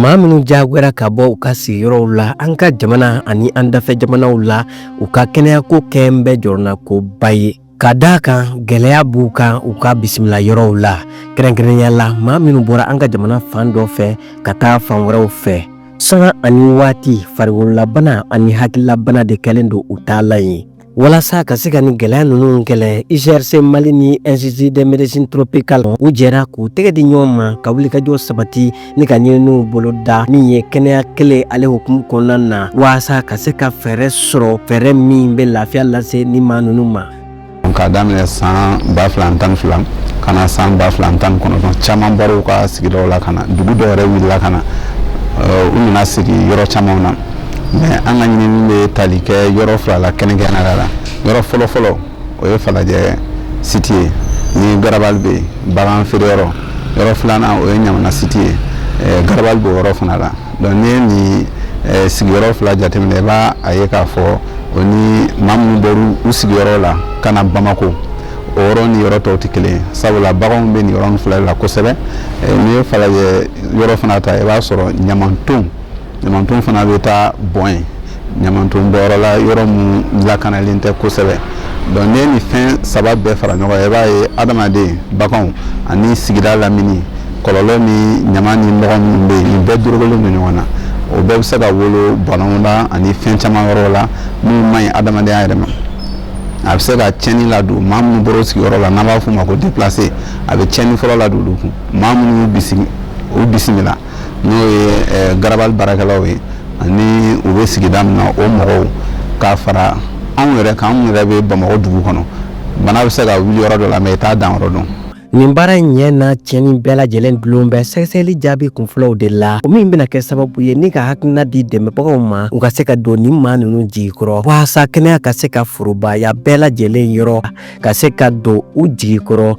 Maa minnu diyagoyara ka bɔ u ka sigiyɔrɔw la an ka jamana ani an dafɛ jamanaw la u ka kɛnɛyako kɛlen bɛ jɔrɔnakoba ye ka d'a kan gɛlɛya b'u kan u ka bisimila yɔrɔw la kɛrɛnkɛrɛnya la maa minnu bɔra an ka jamana fan dɔ fɛ ka taa fan wɛrɛw fɛ sanga ani waati farigololabana ani hakililabana de kɛlen don u taalan ye walasa ka se ka nin gɛlɛya ninnu kɛlɛ ucrc mali ni institut de médecine tropicale u jɛra k'u tɛgɛ di ɲɔgɔn ma ka wulikajɔ sabati ni ka ɲininiw boloda min ye kɛnɛya kelen ale hukumu kɔnɔna na walasa ka se ka fɛɛrɛ sɔrɔ fɛɛrɛ min bɛ lafiya lase nin maa ninnu ma k'a daminɛ san ba fila ni tan ni fila ka na san ba fila ni tan ni kɔnɔntɔn caman bɔr'u ka sigidaw la ka na dugu dɔw yɛrɛ wulila ka na u nana sigi yɔrɔ camanw na mais an ka ɲinini bɛ tali kɛ yɔrɔ fila la kɛrɛnkɛrɛnya la yɔrɔ fɔlɔfɔlɔ o ye falajɛ site ye ni garabali bɛ yen bagan feere yɔrɔ yɔrɔ filanan o ye ɲamana site ye eh, garabali b'o yɔrɔ fana la donc n'i ye nin eh, sigiyɔrɔ fila jateminɛ i b'a ye k'a fɔ o ni maa minnu bɔra u sigiyɔrɔ la ka na bamako o yɔrɔ ni yɔrɔ tɔw tɛ kelen ye sabula baganw bɛ nin yɔrɔ fila la kosɛbɛ eh, n'i ye falajɛ yɔrɔ fana ta i b'a sɔrɔ ɲamantonw ɲamanton fana bɛ taa bɔn yen ɲamanton bɔnyɔrɔ la yɔrɔ min lakanalen tɛ kosɛbɛ donc n'i ye nin fɛn saba bɛɛ fara ɲɔgɔn kan i b'a ye adamaden baganw ani sigida lamini kɔlɔlɔ ni ɲaman ni nɔgɔ minnu bɛ yen nin bɛɛ dorogolen don ɲɔgɔn na o bɛɛ bɛ se ka wolo banaw la ani fɛn caman wɛrɛw la minnu man ɲi adamadenya yɛrɛ ma a bɛ se ka tiɲɛni ladon maa minnu bɔra u sigiyɔrɔ la n'an b'a f'o ma ko déplacé a bɛ tiɲɛni fɔlɔ ladon olu kun maa minnu y'u bisigi u bisimila n'o ye garabali baarakɛlaw ye ani u bɛ sigida min na o mɔgɔw k'a fara anw yɛrɛ kan anw yɛrɛ bɛ bamakɔ dugu kɔnɔ bana bɛ se ka wuli yɔrɔ dɔ la mais i t'a dan yɔrɔ dɔn nin baara in ɲɛ n'a tiɲɛni bɛɛ lajɛlen dulon bɛ sɛgɛsɛgɛli jaabi kunfɔlɔw de la o min bɛna kɛ sababu ye ni ka hakilina di dɛmɛbagaw ma u ka se ka don nin maa ninnu jigi kɔrɔ walasa kɛnɛya ka se ka forobaya bɛɛ lajɛlen yɔrɔ ka se ka don u jigi kɔrɔ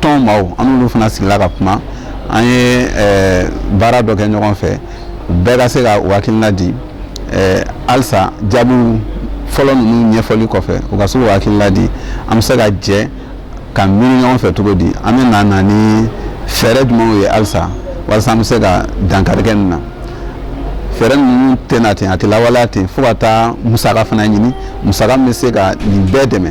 tɔn maaw an n'olu fana sigila ka kuma an ye eh, baara dɔ kɛ ɲɔgɔn fɛ bɛɛ ka se ka u hakilina di eh, halisa jaabiw fɔlɔ ninnu ɲɛfɔli kɔfɛ u ka se k'u hakilila di an bɛ se ka jɛ ka miiri ɲɔgɔn fɛ cogo di an bɛna na ni fɛɛrɛ jumɛnw ye halisa walasa an bɛ se ka dankari kɛ nin na fɛɛrɛ ninnu tɛ na ten a tɛ lawaleya ten fo ka taa musaka fana ɲini musaka min bɛ se ka nin bɛɛ dɛmɛ